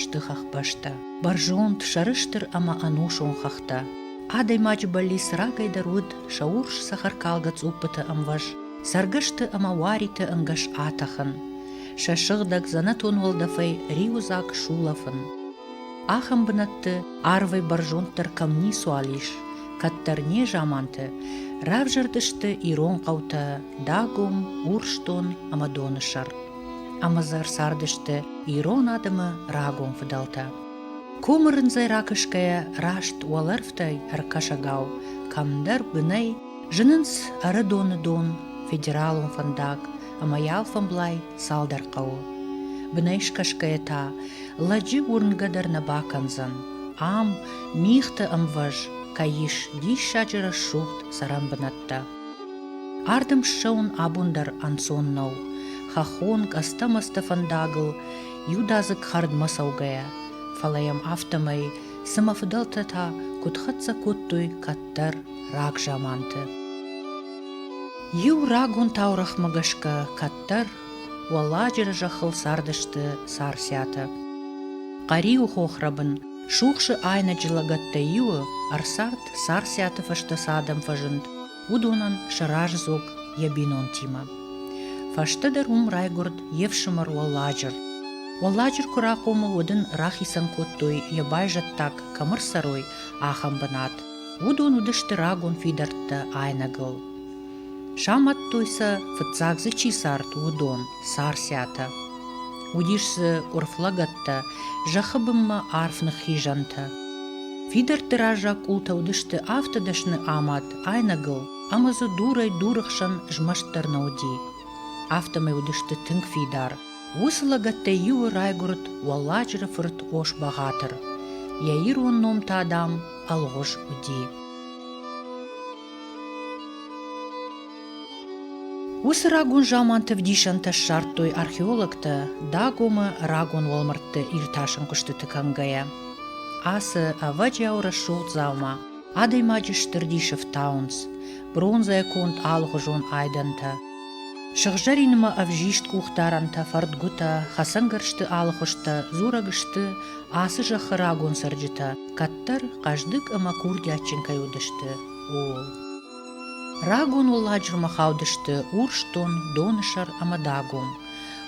сты хӕхбӕстӕ. Бӕрзонд, сӕрыстыр ӕмӕ ӕнусон хӕхтӕ. Адӕймаджы бӕллиц рагӕйдӕр уыд сӕ урс цӕхӕркалгӕ цъуппыты ӕмвӕз, цӕргӕсты ӕмӕ уариты ӕнгӕс атӕхын, сӕ сыгъдӕг дзӕнӕтон уӕлдӕфӕй риуыдзаг сулӕфын. Ахӕм бынӕтты арвӕй бӕрзонддӕр кӕм ницуал ис, кӕддӕр незаманты равзӕрдысты ирон хъӕутӕ Дагом, Урсдон ӕмӕ Доны сӕр. ӕмӕ дзы ӕрцардысты ирон адӕмы рагон фыдӕлтӕ. Комы рындзӕй ракӕсгӕйӕ раст уӕлӕрвтӕй ӕркӕсӕгау кӕмдӕр бынӕй зынынц Ӕрыдоны дон, федералон фӕндаг ӕмӕ йӕ алфӕмблай цалдӕр хъӕуы. Бынӕй скӕсгӕйӕ та лӕджы уырнгӕ дӕр нӕ бакӕндзӕн. Ам мигъты ӕмвӕз кӕй ис диссаджы рӕсугъд цӕрӕн бынӕттӕ. Ардӕм ссӕуын абон дӕр ӕнцон нӕу. Хӕххон къӕстӕ-мӕстӕ фӕндагыл иудадзыг хӕрдмӕ цӕугӕйӕ, фӕлӕ йӕм афтӕмӕй, цымӕ фыдӕлтӕ та куыд хӕццӕ кодтой кӕддӕр рагзаманты. Иу рагон таурӕхъмӕ гӕсгӕ кӕддӕр Уӕлладжыры зӕххыл цардысты Царциатӕ. Хъӕриуы хохрӕбын Сухсы айнӕджы лӕгӕттӕй иуы ӕрцард Царциаты фӕстӕ цы адӕм фӕзынд, уыдонӕн сӕ раздзог йӕ бинонтимӕ. Фӕстӕдӕр уым райгуырд йе фсымӕр Уӕлладжыр. Уӕлладжыр куы рахъомыл, уӕд ын рахицӕн кодтой йӕ байзӕддаг кӕмӕ рцӕрой, ахӕм бынат. Уыдон уыдысты рагон фидӕрттӕ айнӕгыл. Самадтой сӕ, фыццаг дзы чи цард, уыдон, царциатӕ. Уыдис дзы къуырф лӕгӕттӕ, зӕххы бынмӕ арф ныххизӕнтӕ. Фидӕртты раззаг къултӕ уыдысты афтӕ дӕсны амад айнӕгыл, ӕмӕ дзы дурӕй-дуры хсӕн змӕст дӕр нӕ уыди. Афтӕмӕй уыдысты тынг фидар. Уыцы лӕгӕттӕй иуы райгуырд Уӕлладжыры фырт Ос-Бӕгъатыр. Йӕ ирон ном та, дам, Ӕлгъуыз уыди. Уыцы рагон заманты вдисӕнтӕ ссардтой археологтӕ Дагомы рагон уӕлмӕрдты иртасын куыстыты кӕнгӕйӕ. Ацы ӕвӕджиау рӕсугъд дзаума адӕймаджы стыр дисы фтауынц бронзӕ конд алыгъуызон айдӕнтӕ. Сыгъзӕринмӕ ӕвзист къухдарӕнтӕ, фӕрдгуытӕ, хӕцӕнгӕрзты алыхуызтӕ дзурӕг сты ацы зӕххы рагон цӕрджытӕ. кӕддӕр хъӕздыг ӕмӕ курдиатджын кӕй уыдысты, ууыл. Рагон уылладжырмӕ хаудысты Урсдон, Донысӕр ӕмӕ Дагом.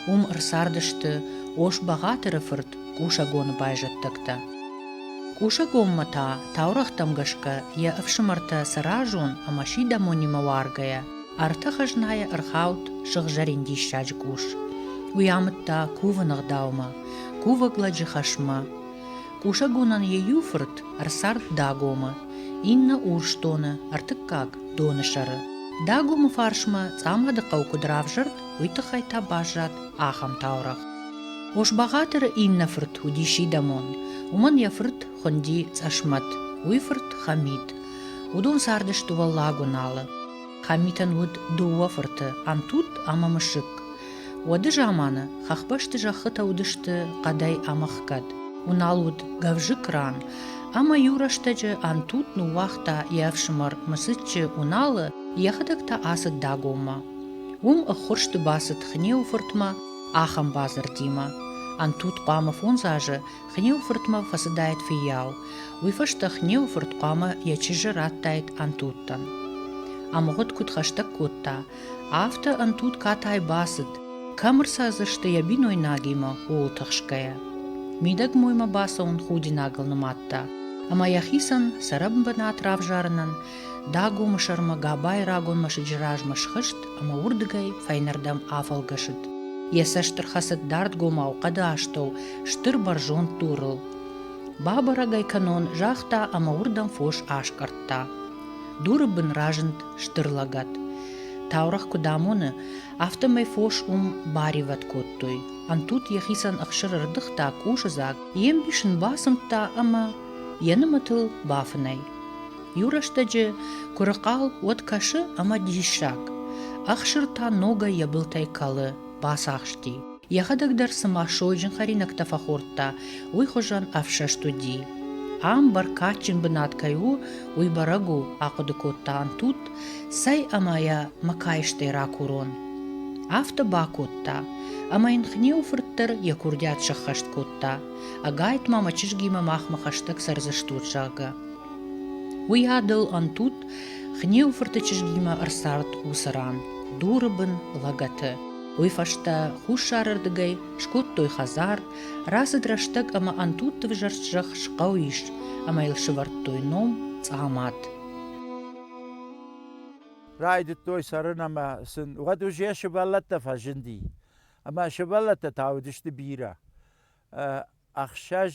Уым ӕрцардысты Ос-Бӕгъатыры фырт Къусӕгоны байзӕддӕгтӕ. Къусӕгонмӕ та, таурӕгътӕм гӕсгӕ, йӕ ӕфсымӕртӕ сӕразон ӕмӕ сидӕмонимӕ уаргӕйӕ, ӕртӕ хӕзнайӕ ӕрхауд сыгъзӕрин диссаджы къус. Уый амыдта кувыны гъдаумӕ, кувӕг лӕджы хӕсмӕ. Кусӕгонӕн йӕ иу фырт ӕрцард Дагомы, иннӕ Урсдоны, ӕртыккаг, Донысӕры. Дагомы фарсмӕ Цъамады хъӕу куыд равзӕрд, уый тыххӕй та баззад ахӕм таурӕгъ. Ос-Бӕгъатыры иннӕ фырт уыди сидӕмон, уымӕн йӕ фырт хуынди Цъӕсмӕт, уый фырт Хамид. Уыдон цардысты Уӕллаг Уыналы. Хамитӕн уыд дыууӕ фырты, Антут ӕмӕ Мысыкк. Уӕды заманы хӕхбӕсты зӕххытӕ уыдысты хъӕдӕй ӕмӕхгӕд. Уынал уыд гӕвзыкк ран, ӕмӕ-иу рӕстӕджы Антут ныууагъта йӕ ӕфсымӕр Мысыччы Уыналы, йӕхӕдӕг та ацыд Дагоммӕ. Уым ӕххуырсты бацыд Хнеуы фыртмӕ ахӕм бадзырдимӕ: Антут хъуамӕ фондз азы Хнеуфыртмӕ фӕцыдаид фыййау. Уый фӕстӕ Хнеуфырт хъуамӕ йӕ чызджы радтаид Ӕнтудтӕн. Ӕмгъуыд куыд хӕстӕг кодта, афтӕ Ӕнтуд катай бацыд, кӕм ӕрцӕрдзысты йӕ бинойнагимӕ, ууыл тыхсгӕйӕ. Мидӕг моймӕ бацӕуын худинагыл нымадта, ӕмӕ йӕхицӕн сӕ рӕбынбынат равзарынӕн Дагомы сӕрмӕ Габайы рагон мӕсыджы размӕ схызт ӕмӕ уырдыгӕй фӕйнӕрдӕм афӕлгӕсыд. Йӕ цӕст ӕрхӕцыд дардгомау хъӕды астӕу стыр бӕрзонд дурыл. Бабӕрӕг ӕй кӕнон, загъта ӕмӕ уырдӕм фос аскъӕрдта. Дуры бын разынд стыр лӕгӕт. Таурӕгъ куыд амоны, афтӕмӕй фос уым баривӕд кодтой. Ӕнтут йӕхицӕн ӕхсыр ӕрдыгъта, къусыдзаг, йе мбис ын бацымдта ӕмӕ йӕ нымӕтыл бафынӕй. Иу рӕстӕджы куырыхъал уӕд кӕсы ӕмӕ диссаг. Ӕхсыр та ногӕй йӕ былтӕй кӕлы, бацахсти. Йӕхӕдӕг дӕр цыма сойджын хӕринӕгтӕ фӕхордта, уый хуызӕн ӕфсӕст уыди. Ам бӕркадджын бынат кӕй у, уый бӕрӕг у, ахъуыды кодта Антут, цӕй ӕмӕ йӕ мӕ каистӕй ракурон. Афтӕ бакодта, ӕмӕ йын Хнеуы фырт дӕр йӕ курдиат сӕххӕст кодта. Ӕгайтма мӕ чызгимӕ махмӕ хӕстӕг цӕрдзыстут, зӕгъгӕ. Уый адыл ӕнтут Хниуфырты чызгимӕ ӕрцард уыцы ран, дуры бын лӕгӕты. Уый фӕстӕ хуссарырдыгӕй скодтой хӕдзар, рацыд рӕстӕг ӕмӕ ӕнтутты взӕрст зӕхх схъӕу ис, ӕмӕ йыл сывӕрдтой ном Цъамат. Райдыдтой цӕрын ӕмӕ сын уӕд узе сывӕллӕттӕ фӕзынди. Ӕмӕ сывӕллӕттӕ та уыдысты бирӕ. Ӕхсӕз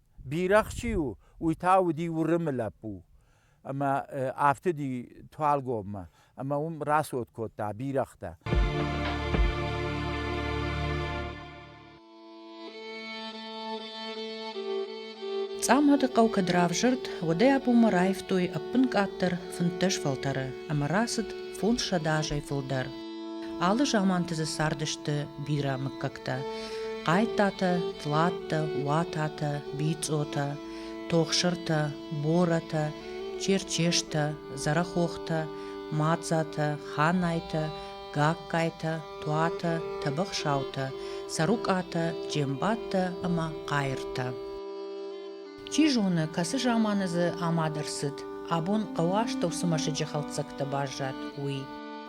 Бирӕгъ чи у, уый та уыди Уырымы лӕппу. Ӕмӕ афтыди Туалгоммӕ ӕмӕ уым рацот кодта бирӕгътӕ. Цъамады хъӕу кӕд равзӕрд, уӕдӕй абонмӕ раивтой ӕппын къаддӕр фынддӕс фӕлтӕры ӕмӕ рацыд фондз сӕдӕ азӕй фылдӕр. Алы заманты дзы цардысты бирӕ мыггӕгтӕ: Хъайттатӕ, Тлаттӕ, Уататӕ, Бицъотӕ, Тохсыртӕ, Борӕтӕ, Черчестӕ, Зӕрӕхохтӕ, Мадзатӕ, Ханайтӕ, Гагкайтӕ, Туатӕ, Тӕбӕхсаутӕ, Цӕрукъатӕ, Джембаттӕ ӕмӕ Хъайыртӕ. Чи зоны, кӕцы заманы дзы амад ӕрцыд, абон хъӕуы астӕу цы мӕсыджы хӕлддзӕгтӕ баззад, уый.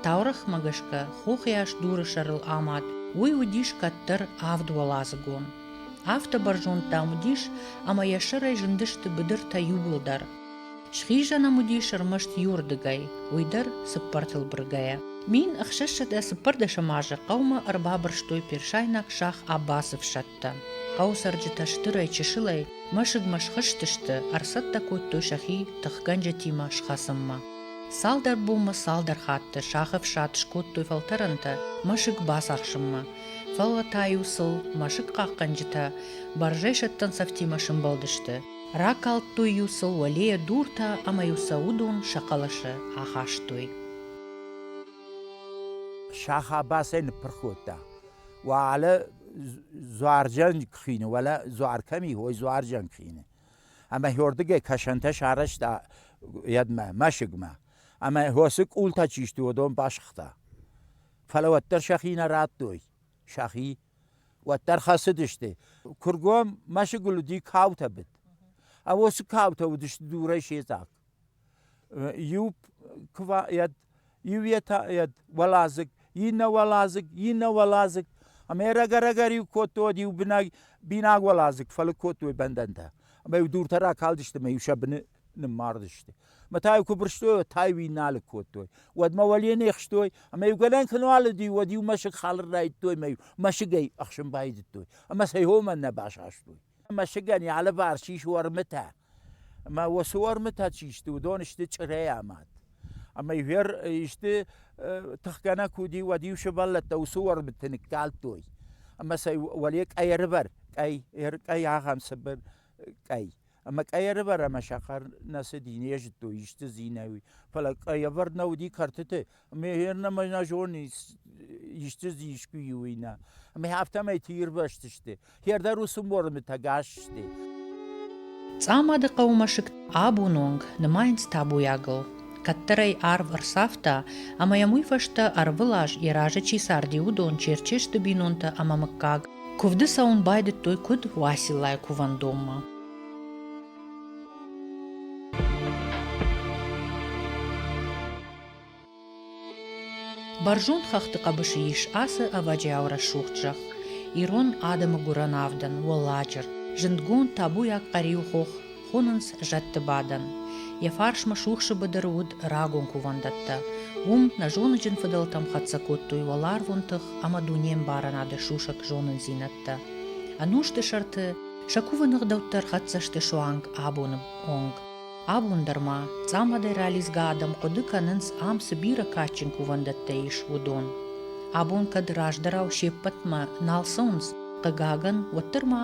Таурӕгъмӕ гӕсгӕ, хохӕс дуры сӕрыл амад, уый уыдис кӕддӕр авд уӕладзыгон. Афтӕ бӕрзонд, дам, уыдис, ӕмӕ йӕ сӕрӕй зындысты быдыртӕ иууылдӕр. Схизӕн ӕм уыдис ӕрмӕст иуырдыгӕй, уый дӕр цыппӕртыл быргӕйӕ. Мин ӕхсӕзсӕдӕ цыппӕрдӕсӕм азы хъӕумӕ ӕрбабырстой персайнаг шах Аббазы фсӕдтӕ. Хъӕуы цӕрджытӕ стырӕй-чысылӕй мӕсыгмӕ схызтысты, ӕрцӕттӕ кодтой сӕхи тыхгӕнджытимӕ схӕцынмӕ. Цалдӕр бонмӕ цалдӕр хатты шахы фсад скодтой фӕлтӕрӕнтӕ мӕсыг бацахсынмӕ, фӕлӕ та-иу сыл мӕсыг хъахъхъӕнджытӕ бӕрзӕйсӕттӕн цӕфтимӕ сымбӕлдысты. Ракалдтой-иу сыл уӕлейӕ дуртӕ ӕмӕ-иу сӕ уыдон сӕ хъӕлӕсы ахастой. Сахабасӕй ныппырх кодта. Уӕлӕ дзуарджан куы хины, уӕлӕ дзуар кӕм и, уой дзуарджан хины. Ӕмӕ хьордыгӕй кӕсӕнтӕ сарӕзта йедмӕ, мӕсыгмӕ. Ӕмӕ хосы къултӕ чи сты, уыдон басыгъта. Фӕлӕ уӕддӕр сӕхи нӕ радтой. сӕхи, уӕддӕр хӕцыдысты. Кургом мӕсыгыл уыди каутӕ быд. А уыцы каутӕ уыдысты дурӕй се дзаг. Иу куывает, иу йӕ уӕладзыг, иннӕ уӕладзыг, иннӕ уӕладзыг. Ӕмӕ рӕгӕрӕгӕр-иу кодтой иу бинаг, бинаг уӕладзыг, фӕлыг кодтой бӕндӕнтӕ. Ӕмӕ иу дуртӕ ракалдысты, ӕмӕ иу сӕ быны ныммардысты. Мӕ та-иу куы бырстой, та-иу иннӕ алыг кодтой. Уӕдмӕ уӕле не хстой, ӕмӕ-иу галӕн куы нӕ алыди, уӕд-иу мӕсыг халыр райдтой ӕмӕ-иу мӕсыгӕй ӕхсын байдыдтой. Ӕмӕ сӕ иомӕн нӕ басастой. Мӕсыгӕн йӕ алыварс ис уӕрмытӕ. Ӕмӕ уыцы уӕрмытӕ чи сты, уыдон сты чъырӕй амад. Ӕмӕ ивер исты тыхгӕнӕг уыди, уӕд-иу сывӕллӕттӕ уыцы уӕрмыты ныккалдтой. Ӕмӕ сӕ уӕле къӕйӕрвӕр, къӕй, къӕй ахӕм цыбыр къӕй. Ӕма къӕй ӕрывӕр ӕма сахар нӕ цыди, не зыдтой исты зинӕуи. Фӕлӕ къӕй ӕвӕрд нӕ уыди кӕртыты, ӕмӕ гъеннӕмӕ нӕ зони исты зы искуы и, уый нӕ. Ӕмӕ афтӕмӕй тыирвӕзтысты. Хер дӕр уыцы морымы тӕгас сты. Цъамады хъӕуы мӕсыг абон онг нымайынц табуйагыл. кӕддӕрӕй арв ӕрцавта ӕмӕ йӕм уый фӕстӕ ӕрвылаз йӕ разы чи царди, уыдон, черче сты бинонтӕ ӕмӕ мыггаг, куывды цӕуын байдыдтой куыд Уациллайы кувӕндонмӕ. Бӕрзонд хӕхты хъӕбысы ис ацы ӕвӕджиау рӕсугъд зӕхх, ирон адӕмы гуырӕн авдӕн Уӕлладжыр. Зындгонд табуйаг къӕриу хох хонынц зӕдты бадӕн. Йӕ фарсмӕ сухсы быдыры уыд рагон кувӕндӕттӕ. Уым нӕзоныджын фыдӕлтӕм хӕццӕ кодтой уӕларвон тых ӕмӕ дунембарынады сусӕг зонындзинӕдтӕ. Ӕнусты сӕрты сӕ кувы ныгъдӕуттӕ рхӕццӕ сты суанг абоны онг. Абон дӕр ма цъамадӕй ралидзгӕ адӕм хъуыды кӕнынц, ам цы бирӕ кадджын кувӕндӕттӕ ис, уыдон. Абон кӕд раздӕрау се ппӕтмӕ нал цӕуынц, хъыгагӕн, уӕддӕр ма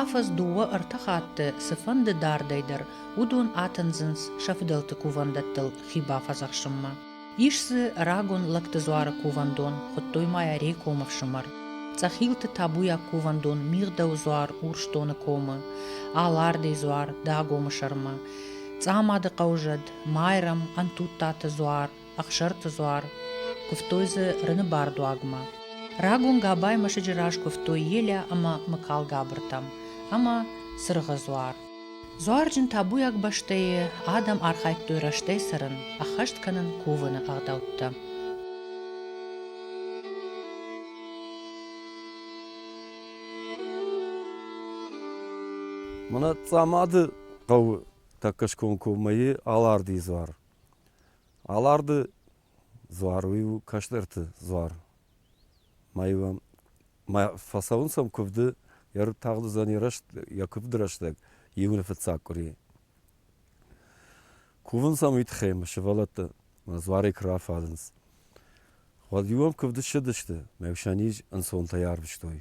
афӕдз дыууӕ-ӕртӕ хатты цыфӕнды дардӕй дӕр уыдон атындзынц сӕ фыдӕлты кувӕндӕттыл хи бафӕдзӕхсынмӕ. Ис дзы рагон лӕгты дзуары кувӕндон, хуыдтой ма йӕ Рекомы фсымӕр. Цъӕхилты табуйаг кувӕндон Мигъдӕуы дзуар Урсдоны комы, Алардыйы дзуар Дагомы сӕрмӕ, Цъамады хъӕузӕд, Майрӕм, Ӕнтуттаты дзуар, Ӕхсӕрты дзуар, куывтой дзы Рыны бардуагмӕ. Рагон Габай мӕсыджы раз куывтой Елӕ ӕмӕ Мыкалгабыртӕм ӕмӕ Цыргъы дзуар. Дзуарджын табуйаг бӕстӕйы адӕм архайдтой рӕстӕй цӕрын, ӕххӕст кӕнын кувыны ӕгъдӕуттӕ. Мынацъамады хъӕуы тӕккӕ скомкоммӕйы Аларды дзуар. Аларды дзуар уый у кӕстӕрты дзуар. ма йӕм фӕцӕуынц ӕм куывды, йӕ рыг тагъд уыдзӕни йӕ куывды рӕстӕг июны фыццаг къуыри. Кувынц ӕм уый тыххӕй сывӕллӕтты ӕмӕ дзуарӕй куы рафадынц. Уӕд иу ӕм куывды ссыдысты, мӕ усӕн низ ӕнцонтӕй арвыстой.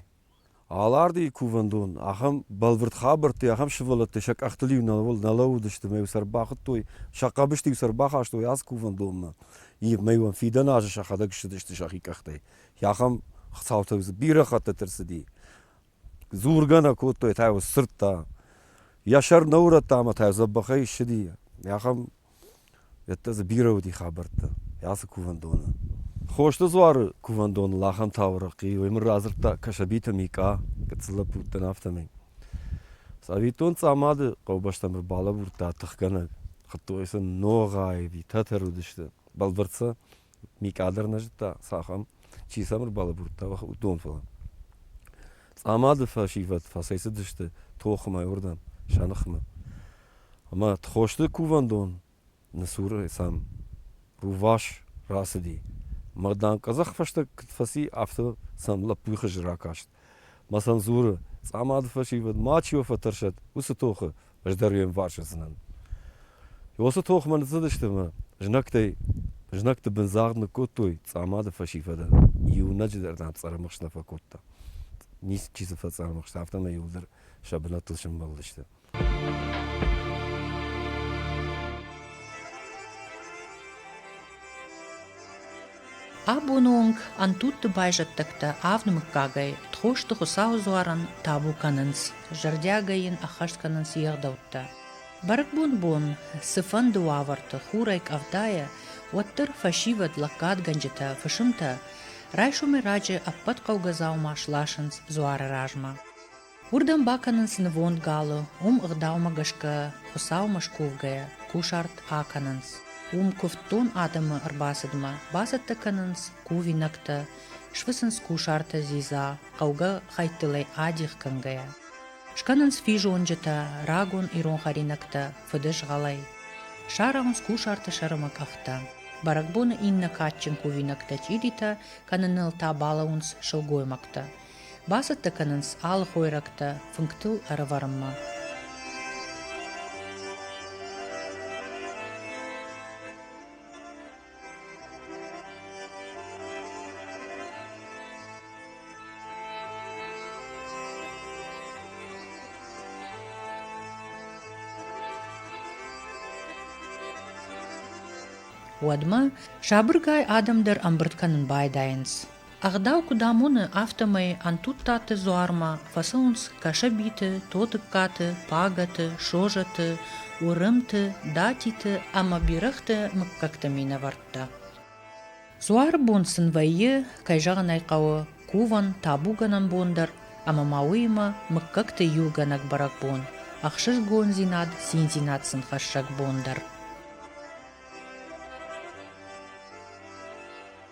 Алардыйы кувӕндон, ахӕм бӕлвырд хабӕртты, ахӕм сывӕллӕтты сӕ къӕхтыл-иу нӕ лӕууыдысты мӕ-иу сӕ ӕрбахуыдтой, сӕ хъӕбысты-иу сӕ ӕрбахастой ацы кувӕндонмӕ. Мӕ-иу фидӕн азы сӕхӕдӕг ссыдысты сӕхи къӕхтӕй. Ахӕм цаутӕ бирӕ хӕттыты ӕрцыди. Дзургӕ нӕ кодтой, та йыл сдзырдта. Йӕ сӕр нӕ урӕдта ӕмӕ та йыл дзӕбӕхӕй ссыди. Ахӕм Йедтӕ дзы бирӕ уыди хабӕрттӕ ацы кувӕндоны. Хосты дзуары кувӕндоныл ахӕм таурӕгъ хъи, уый мын радзырдта Кӕсӕбиты Микъа, гыццыл лӕппуттӕн афтӕмӕй. Цӕвиттон, Цъамады хъӕубӕстӕм ӕрбалӕбурдта тыхгӕнӕг. Хуыдтой сын Ногъайы, Тӕтӕр уыдысты, бӕлвырд сӕ Микъа дӕр нӕ зыдта, цахӕм, чи сӕм ӕрбалӕбурдта, уыдон, фӕлӕ. Цъамады фӕсивӕд фӕцӕйцыдысты тохмӕ уырдӕм, сӕ ныхмӕ. Ӕмӕ Тхосты кувӕндон ны цур сӕм рувас рацыди. Мӕ дам, къӕдзӕхфӕстаг куыд фӕци, афтӕ сӕм лӕппуйы хыз ракаст. Масан дзуры, цъамады фӕсивӕд мачи уӕ фӕтӕрсӕд, уыцы тохы ӕз дӕр уе мварс уыдзынӕн. Уыцы тохмӕ ныццыдысты мӕ знӕгтӕй, знӕгты бын загъд ныккодтой цъамады фӕсивӕдӕн. Иунӕджы дӕр нӕм цъӕрымыхст нӕ фӕкодта. Ницы чи дзы фӕцъӕрымыхста, афтӕмӕй иуыл дӕр сӕ бынӕттыл сӕмбӕлдысты. Абоны онг ӕнтутты байзӕддӕгтӕ авды мыггагӕй Тхосты Хуыцауы дзуарӕн табу кӕнынц, зӕрдиагӕй йын ӕххӕст кӕнынц йе гъдӕуттӕ. Бӕрӕгбон бон цыфӕнды уавӕрты хурӕй къӕвдайӕ, уӕддӕр фӕсивӕд лӕггадгӕнджытӕ, фысымтӕ райсомӕй раджы ӕппӕт хъӕугӕ дзаума сласынц дзуары размӕ. Уырдӕм бакӕнынц нывонд галы, уым ӕгъдаумӕ гӕсгӕ, Хуыцаумӕ скувгӕйӕ, кусарт акӕнынц. Уым куывддон адӕмы ӕрбацыдмӕ бацӕттӕ кӕнынц кувинӕгтӕ, сфыцынц кусартӕ дзидза, хъӕугӕ хӕйттылӕй адих кӕнгӕйӕ. Скӕнынц физонджытӕ, рагон ирон хӕринӕгтӕ, фыдызгъӕлӕй. Сарӕхынц кусарты сӕрымы къӕхтӕ. Бӕрӕгбоны иннӕ кадджын кувинӕгтӕ чъиритӕ кӕныныл та балӕууынц сылгоймӕгтӕ, Бацӕттӕ кӕнынц алы хойрӕгтӕ фынгтыл ӕрӕвӕрынмӕ. Уӕдмӕ сабыргай адӕм дӕр ӕмбырд кӕнын байдайынц. Ӕгъдау куыд амоны, афтӕмӕй Ӕнтуттаты дзуармӕ фӕцӕуынц Кӕсӕбиты, Тотыккаты, Пагӕты, Созаты, Уырымты, Датиты ӕмӕ Бирӕгъты мыггӕгты минӕвӕрттӕ. Дзуары бон сын вӕййы, кӕй зӕгъын ӕй хъӕуы, кувӕн, табугӕнӕн бон дӕр, ӕмӕ ма уыимӕ мыггӕгты иугӕнӕг бӕрӕгбон, ӕхсызгондзинад, циндзинад сын хӕссӕг бон дӕр.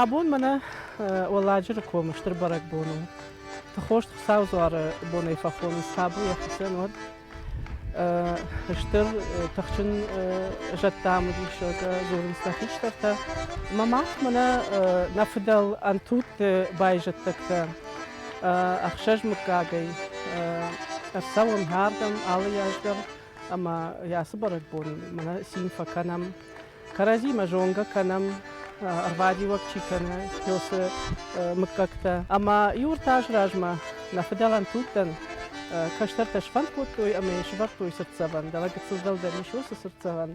Абон мӕнӕ Уӕлладжыры комы стыр бӕрӕгбон у. Тыхост Хуыцау дзуары бонӕй фӕхонынц сабу йӕ хуыцӕн уӕд. Стыр тыхджын зӕдтӕм уыдис гуырынскӕ хистӕртӕ. Мӕ мах мӕнӕ нӕ фыдӕл ӕнтутты байзӕддӕгтӕ ӕхсӕз мыггагӕй ӕрцӕуӕм ардӕм алы аз дӕр ӕмӕ ацы бӕрӕгбон мӕнӕ цин фӕкӕнӕм. кӕрӕдзимӕ зонгӕ кӕнӕм, ӕрбадиуӕг чи кӕны песы мыггӕгтӕ. Ӕмӕ иу ӕртӕ азы размӕ нӕ фыдӕлӕн тугтӕн кӕстӕртӕ сфӕнд кодтой ӕмӕ йын сывӕрдтой цыртдзӕвӕн, дӕлӕ гыццыл дӕлдӕр ис уыцы цыртдзӕвӕн.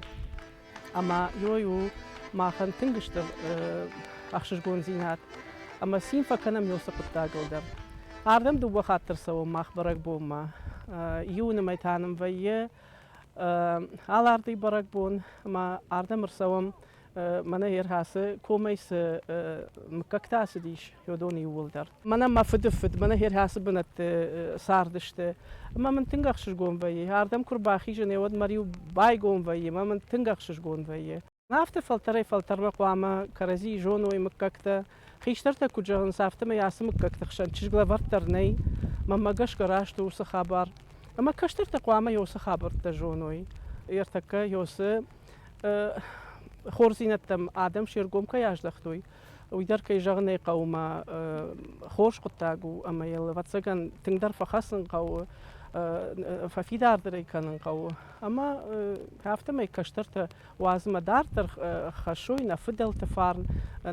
Ӕмӕ йой у махӕн тынг стыр ӕхсызгондзинад. Ӕмӕ цин фӕкӕнӕм йе уыцы хъуыддагыл дӕр. Ардӕм дыууӕ хатты рцӕуӕм мах бӕрӕгбонмӕ. Июны мӕй та нын вӕййы Аларти бӕрӕгбон ма ардӕм ӕрцӕуӕм, мӕнӕ ӕрхӕцы комӕй цы мыггӕгтӕ ацыдис Йодоны иууылдӕр. Мӕнӕ мӕ фыдыфыд, мӕнӕ ӕрхӕцы бынӕтты цардысты. Ӕмӕ мын тынг ӕхсызгон вӕййы, ардӕм куы рбахизын, уӕд мӕ риу байгом вӕййы, ӕмӕ мын тынг ӕхсызгон вӕййы. Афтӕ фӕлтӕрӕй-фӕлтӕрмӕ хъуамӕ кӕрӕдзийы зоной мыггӕгтӕ. Хистӕртӕ куыд зӕгъынц, афтӕмӕй ацы мыггӕгты хсӕн чызг лӕвӕрд дӕр нӕй. Мӕнмӕ гӕсгӕ раст у уыцы хабар. Ӕмӕ кӕстӕртӕ хъуамӕ Иосы хабӕрттӕ зоной. Ӕртӕккӕ Иосы хорздзинӕдтӕм адӕм се ргом кӕй аздӕхтой, уый дӕр, кӕй зӕгъын ӕй хъӕуы, ма хорз хъуыддаг у ӕмӕ йыл, ӕвӕццӕгӕн, тынгдӕр фӕхӕцын хъӕуы, фӕфидардӕр ӕй кӕнын хъӕуы. Ӕмӕ афтӕмӕй кӕстӕртӕ Уадзынмӕ дарддӕр хӕссой нӕ фыдӕлты фарн,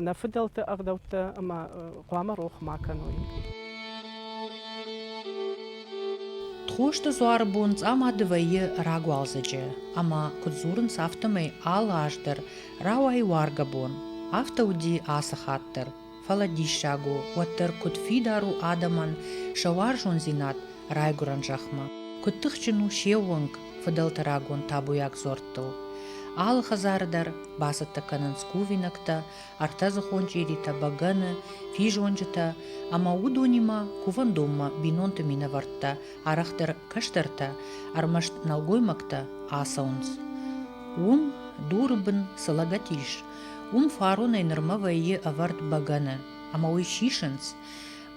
нӕ фыдӕлты ӕгъдӕуттӕ ӕмӕ хъуамӕ рох ма кӕной. Тхосты дзуары бон Цъамады вӕййы рагуалдзӕджы, ӕмӕ куыд дзурынц, афтӕмӕй алы аз дӕр рауайы уаргӕ бон. Афтӕ уыди ацы хатт дӕр. Фӕлӕ диссаг у, уӕддӕр куыд фидар у адӕмӕн сӕ уарзондзинад райгуырӕн зӕхмӕ. Куыд тыхджын у се уӕнг фыдӕлты рагон табуйаг дзуӕрттыл! Алы хӕдзары дӕр бацӕттӕ кӕнынц кувинӕгтӕ, ӕртӕдзыхон чъиритӕ, бӕгӕны, физонджытӕ, ӕмӕ уыдонимӕ кувӕндонмӕ бинонты минӕвӕрттӕ, арӕхдӕр кӕстӕртӕ, ӕрмӕст нӕлгоймӕгтӕ ацӕуынц. Уым дуры бын цы лӕгӕт ис, Уым фаронӕй нырмӕ вӕййы ӕвӕрд бӕгӕны, ӕмӕ уый сисынц,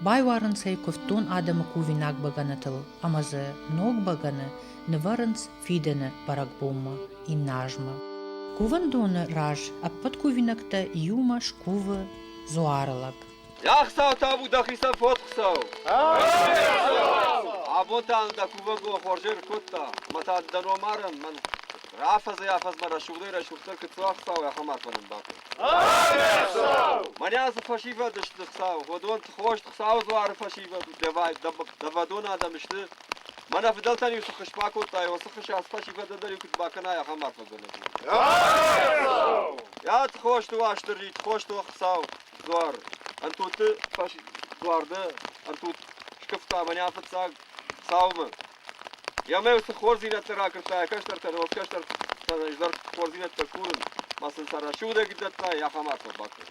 байуарынц ӕй куывддон адӕмы кувинаг бӕгӕнытыл ӕмӕ дзы ног бӕгӕны нывӕрынц фидӕны бӕрӕгбонмӕ иннӕ азмӕ. Кувӕндоны раз ӕппӕт кувинӕгтӕ иумӕ скувы дзуары лӕг. Ӕхсӕв табу дӕхицӕн фотхсау! Абонтӕ дӕ кувӕнгон хуӕрзер кодта, ма та дӕ номарӕн мӕн рафӕдзӕй афӕдзмӕ рӕсугъдӕй рӕсугъддӕр куы цуа хсау, ахӕм арфӕнӕн бакӕн. Мӕнӕ ацы фӕсивӕд сты хсау, уыдон хорз Хуыцауы дзуары фӕсивӕд дӕвай, дӕвӕдон адӕм сты. Мӕнӕ фыдӕлтӕн иу цы хыс бакодтай, уыцы хыс ацы фӕсивӕды дӕр иу куыд бакӕнай, ахӕм арфӕгӕнӕг у. Йӕ хосты Уастыррит, хосты Хсау, дзуар ӕнтотты фашист дзуарды ӕнтут скъуыдта мӕнӕ фыццаг цаумӕ. Йӕ мӕ уыцы хорздзинӕдтӕ ракуырдта йӕ кӕстӕртӕ, но кӕстӕр изӕр хорздзинӕдтӕ курын, ма сын сӕ расудӕг дӕтта, йӕ хамард фӕбакӕн.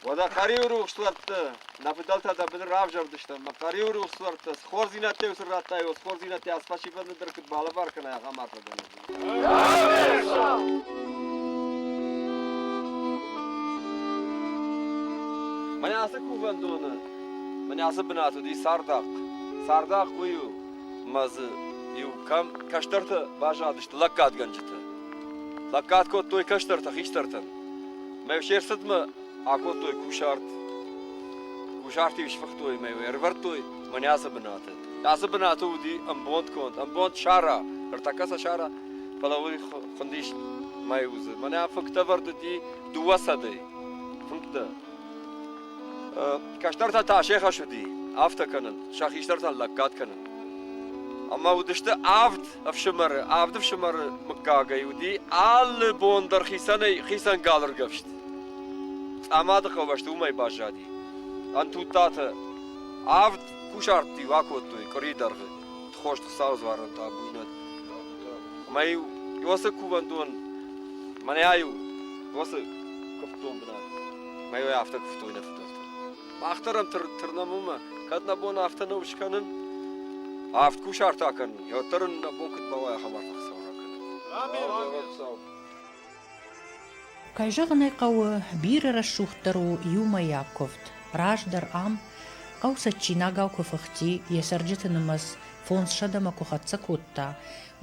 Уӕдӕ Хъӕриуы рухслӕртты нӕ фыдӕлтӕ дӕ быдыр равзӕрдысты, ӕмӕ Хъӕриуы рухслӕрттӕ цы хорздзинӕдтӕ-иу сын радтай, уыцы хорздзинӕдтӕ ӕз фӕсивӕд дӕр куыд балӕвар кӕнай, ахӕм арфӕгӕнӕг. Мӕн ацы кувӕндоны, мӕн ацы бынат уыди цардахъ. Цардахъ уый у, мӕ дзы иу кӕм кӕстӕртӕ базадысты лӕггадгӕнджытӕ. Лӕггад кодтой кӕстӕртӕ хистӕртӕн. Мӕ се рцыдмӕ акодтой кусарт. Кусарт-иу сфыхтой мӕ ӕрӕвӕрдтой мӕнӕ ацы бынаты. Ацы бынаты уыди ӕмбонд конд, ӕмбонд сара, ӕртӕккӕ сӕ сара, фӕлӕ уый хуындис мӕй узы. Мӕнӕ фыктӕвӕрд уыди дыууӕсӕдӕй. Фынгтӕ. Кӕстӕртӕ та се хӕс уыди афтӕ кӕнын, сӕ хистӕртӕн лӕггад кӕнын. Ӕмӕ уыдысты авд ӕфсымӕры. Авд ӕфсымӕры мыггагӕй уыди алы бон дӕр хицӕнӕй хицӕн галыргӕфст. Цъамады хъӕубӕсты уымӕй баззади. Ӕнтудтаты Авд кусарты акодтой къуыри дӕргъы тхост Хуыцауы дзуарон табуйнаг. Ӕмӕ-иу уыцы кувӕндон мӕнӕ-иу уыцы куывддон бынат. Мӕ-иу афтӕ куывтой нӕ фыдӕлтӕ. Мах дӕр ӕм тырнӕм уымӕ, кӕд нӕ бон афтӕ нӕу скӕнын, авд кусарт акӕнын, уӕддӕр ын нӕ бон куыд бауай ахӕм арф Хуыцау ракӕнын. Амин! Хуыцау! Кӕй зӕгъын ӕй хъӕуы, бирӕ рӕсугъддӕр у иумӕйаг куывд. Раздӕр ам хъӕу цӕджджинагау куы фыхти, йӕ цӕрджыты нымӕц фондзсӕдӕмӕ куы хӕццӕ кодта,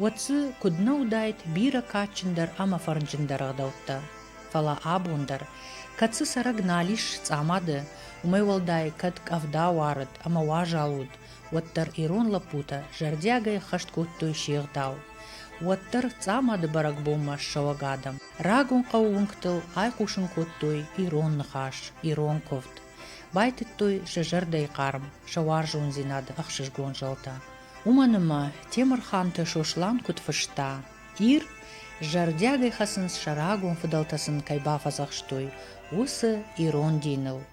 уӕд дзы куыд нӕ уыдаид бирӕ кадджындӕр ӕмӕ фӕрнджындӕр ӕгъдӕуттӕ. Фӕлӕ абон дӕр, кӕд цы цӕрӕг нал ис цъамады, уымӕй уӕлдай, кӕд къӕвда уарыд ӕмӕ уазал уыд, уӕддӕр ирон лӕппутӕ зӕрдиагӕй хӕст кодтой се гъдау. Уӕддӕр Цъамады бӕрӕгбонмӕ ссӕуӕг адӕм рагон хъӕуы уынгтыл айхъусын кодтой ирон ныхас, ирон куывд. Байтыдтой сӕ зӕрдӕйы хъарм, сӕ уарзондзинады ӕхсызгон зӕлтӕ. Уымӕн ӕмӕ Темырханты Сослан куыд фыста, Ир зӕрдиагӕй хӕцынц сӕ рагон фыдӕлтӕ сын кӕй бафӕдзӕхстой, уыцы ирон диныл.